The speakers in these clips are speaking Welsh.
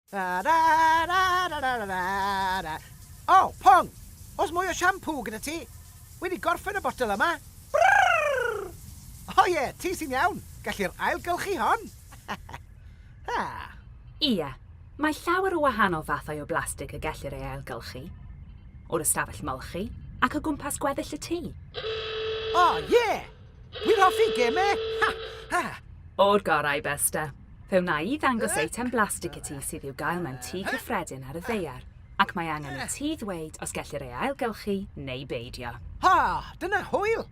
Ra ra ra ra ra ra ra ra. O, Pong! Oes mwy o siampŵ gyda ti? Wedi gorffen y botel yma. Brrrr! O ie, ti sy'n iawn! Gallir ailgylchu hon! Ha! Ie, mae llawer o wahanol fathau o blastig y gellir ei ailgylchu. O'r ystafell molchi, ac o gwmpas gweddill y tŷ. O ie! Wi'n hoffi gem e! Ha! Ha! O'r gorau, Besta. Fe wna i ddangos eitem blastig i ti sydd i'w gael mewn tŷ cyffredin ar y ddaear, ac mae angen i ti ddweud os gellir ei ailgylchu neu beidio. Ha! Dyna hwyl!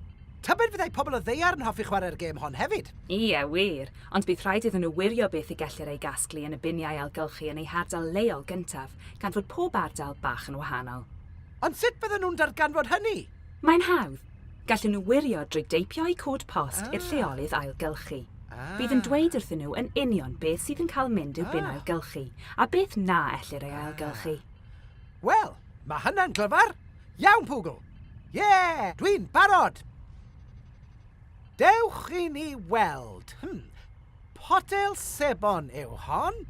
Tybed fyddai pobl y ddaear yn hoffi chwarae'r gêm hon hefyd? Ie, wir, ond bydd rhaid iddyn nhw wirio beth y gellir ei gasglu yn y biniau ailgylchu yn eu hardal leol gyntaf, gan fod pob ardal bach yn wahanol. Ond sut fyddan nhw'n darganfod hynny? Mae'n hawdd. Gallen nhw wirio drwy deipio eu cod post i'r lleolydd ailgylchu. Bydd yn dweud wrthyn nhw yn union beth sydd yn cael mynd i'w bin ailgylchu a beth na ellir ei ailgylchu. Wel, mae hynna'n glyfar! Iawn, Pwgl! Ie! Dwi'n barod! Dewch i ni weld. Hmm. Potel sebon yw hon.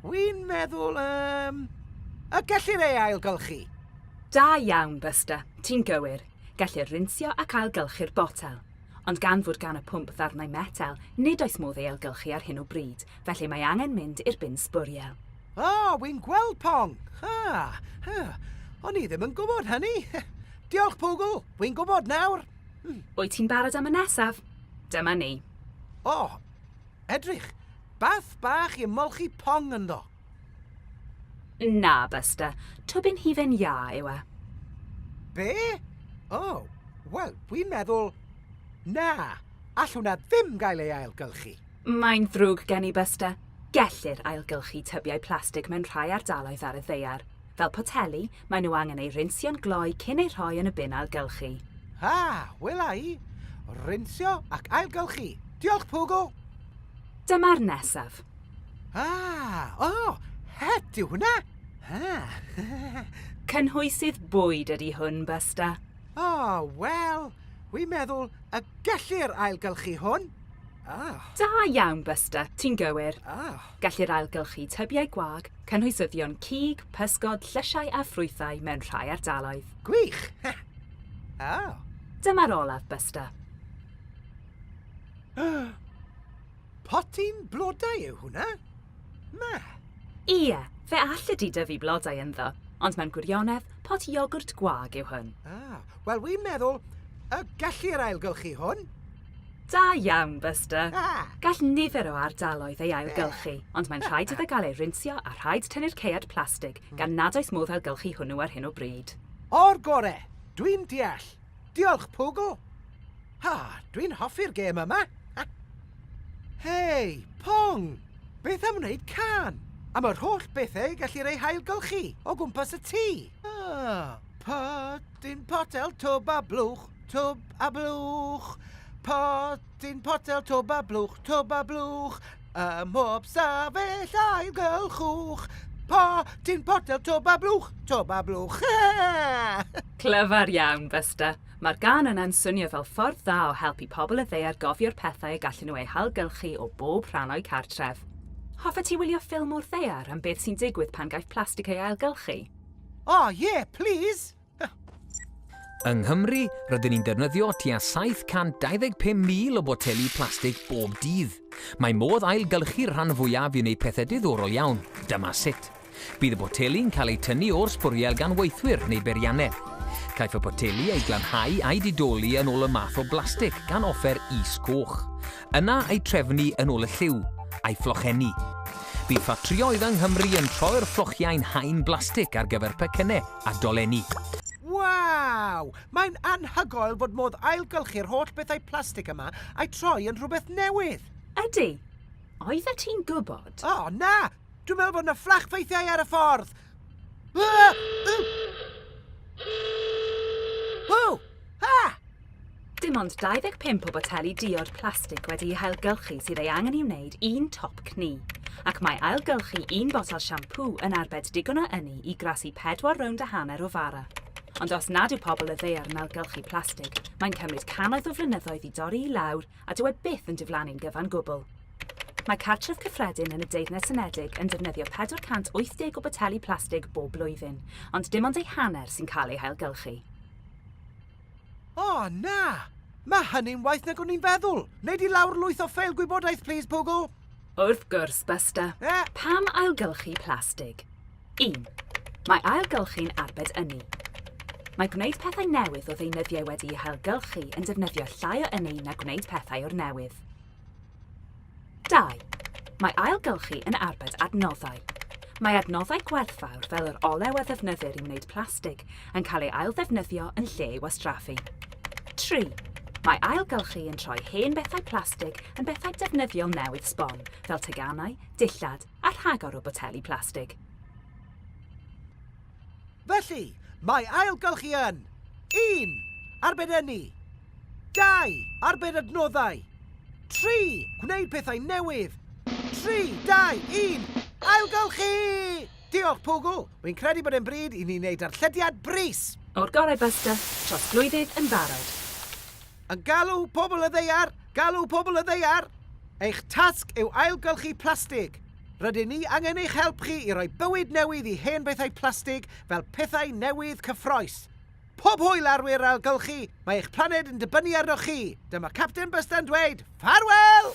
Wi'n meddwl, um, y gellir ei ailgylchu. Da iawn, Buster. Ti'n gywir. Gellir rinsio ac ailgylchu'r botel. Ond gan fod gan y pwmp ddarnau metel, nid oes modd ei ailgylchu ar hyn o bryd, felly mae angen mynd i'r bin sbwriel. O, oh, wi'n gweld pong. Ha, ha. O'n i ddim yn gwybod hynny. Diolch, Pwgl. Wi'n gwybod nawr. Wyt ti'n barod am y nesaf? Dyma ni. O! Edrych! Bath bach i ymolchi pong ynddo. Na, Buster. Tybyn hufen iâ yw e. Be? O, wel, dwi'n meddwl... Na, all hwnna ddim gael ei ailgylchu. Mae'n ddrwg gen i, Buster. Gellir ailgylchu tybiau plastig mewn rhai ardaloedd ar y ddaear. Fel poteli, maen nhw angen eu rinsio'n gloi cyn eu rhoi yn y bin ailgylchu. Ha! Wela i! Rinsio ac ailgylchu! Diolch, Pogo! Dyma'r nesaf. Ha! O! Het yw hwnna! Ha! Cynhwysydd bwyd ydy hwn, Busta. O, wel, wi'n meddwl y gellir ailgylchu hwn. Ah! Da iawn, Busta, ti'n gywir. Ah! Gellir ailgylchu tybiau gwag, cynhwysyddion cig, pysgod, llysiau a ffrwythau mewn rhai ardaloedd. Gwych! Oh. Dyma'r olaf, Buster. Potyn blodau yw hwnna? Ma. Ie, fe allet ti dyfu blodau ynddo, ond mewn gwirionedd, pot iogwrt gwag yw hwn. Ah, wel wi'n meddwl y gellir ailgylchu hwn. Da iawn, Buster! Gall nifer o ardaloedd ei ailgylchu, ond mae'n rhaid iddo gael ei rinsio a rhaid tynnu'r caead plastig, gan nad oes modd ailgylchu hwnnw ar hyn o bryd. O'r gore! Dwi'n deall! Diolch, Poogle! Ha, dwi'n hoffi'r gêm yma! Ha! Hei, Pong! Beth am wneud cân am yr holl bethau y gellir eu hailgylchu o gwmpas y tŷ? Ah, pa dyn potel twb a blwch? Twb a blwch, potyn potel, twb a blwch, twb a blwch, ym mhob stafell ailgylchwch. Potyn potel, twb a blwch, twb a blwch. Clyfar iawn, Buster. Mae'r gân yna'n swnio fel ffordd dda o helpu pobl y ddaear gofio'r pethau y gallen nhw eu hailgylchu o bob rhan o'u cartref. Hoffet ti wylio ffilm o'r ddaear am beth sy'n digwydd pan gaiff plastig ei ailgylchu? O, ie, plis! Yng Nghymru, rydyn ni'n defnyddio tua 725,000 o boteli plastig bob dydd. Mae modd ailgylchu'r rhan fwyaf i wneud pethau diddorol iawn. Dyma sut. Bydd y boteli'n cael eu tynnu o'r sbwriel gan weithwyr neu beiriannau. Caiff y poteli eu glanhau a'u didoli yn ôl y math o blastig gan offer is-goch. Yna eu trefnu yn ôl y lliw, a'i fflochennu. Bydd ffatrïoedd yng Nghymru yn troi'r fflochiau'n haen blastig ar gyfer pecynnau. a dolenni. Waw! Mae'n anhygoel fod modd ailgylchu'r holl bethau plastig yma a'u troi yn rhywbeth newydd! Ydy! Oeddet ti'n gwybod? O, na! Dwi'n meddwl bod 'na fflach ffeithiau ar y ffordd! Ww! Ha! Dim ond 25 o boteli diod plastig wedi'u hailgylchu sydd ei angen i wneud un top cni, ac mae ailgylchu un botel siampŵ yn arbed digon o ynni i grasu pedwar rownd a hanner o fara. Ond os nad yw pobl y ddaear yn ailgylchu plastig, mae'n cymryd cannoedd o flynyddoedd i dorri i lawr a dyw e byth yn diflannu'n gyfan gwbl. Mae cartref cyffredin yn y Deyrnas Unedig yn defnyddio 480 o boteli plastig bob blwyddyn, ond dim ond eu hanner sy'n cael eu hailgylchu. O, na! Mae hynny'n waeth nag o'n i'n feddwl. Wnei di lawr lwyth o ffeil gwybodaeth, plis, Pwgl? Wrth gwrs, Buster. E? Pam ailgylchu plastig? Un, mae ailgylchu'n arbed ynni. Mae gwneud pethau newydd o ddeunyddiau wedi'u hailgylchu yn defnyddio llai o ynni na gwneud pethau o'r newydd. 2. Mae ailgylchu yn arbed adnoddau. Mae adnoddau gwerthfawr fel yr olew a ddefnyddir i wneud plastig yn cael ei ailddefnyddio yn lle ei wastraffu. 3. Mae ailgylchu yn troi hen bethau plastig yn bethau defnyddiol newydd sbon, fel teganau, dillad a rhagor o boteli plastig. Felly, mae ailgylchu yn 1. Arbed ynni 2. Arbed adnoddau 3. Gwneud pethau newydd 3, 2, 1, ailgylchu! Diolch, Pwgl! Wy'n credu bod e'n bryd i ni wneud darllediad brys! O'r gorau Buster, trosglwyddydd yn barod. Yn galw pobl y ddaear, galw pobl y ddaear! Eich tasg yw ailgylchu plastig. Rydyn ni angen eich help chi i roi bywyd newydd i hen bethau plastig fel pethau newydd cyffroes. Pob hwyl arwyr ailgylchu, mae eich planed yn dibynnu arnoch chi! Dyma Capten Bysta'n dweud, Ffarwel!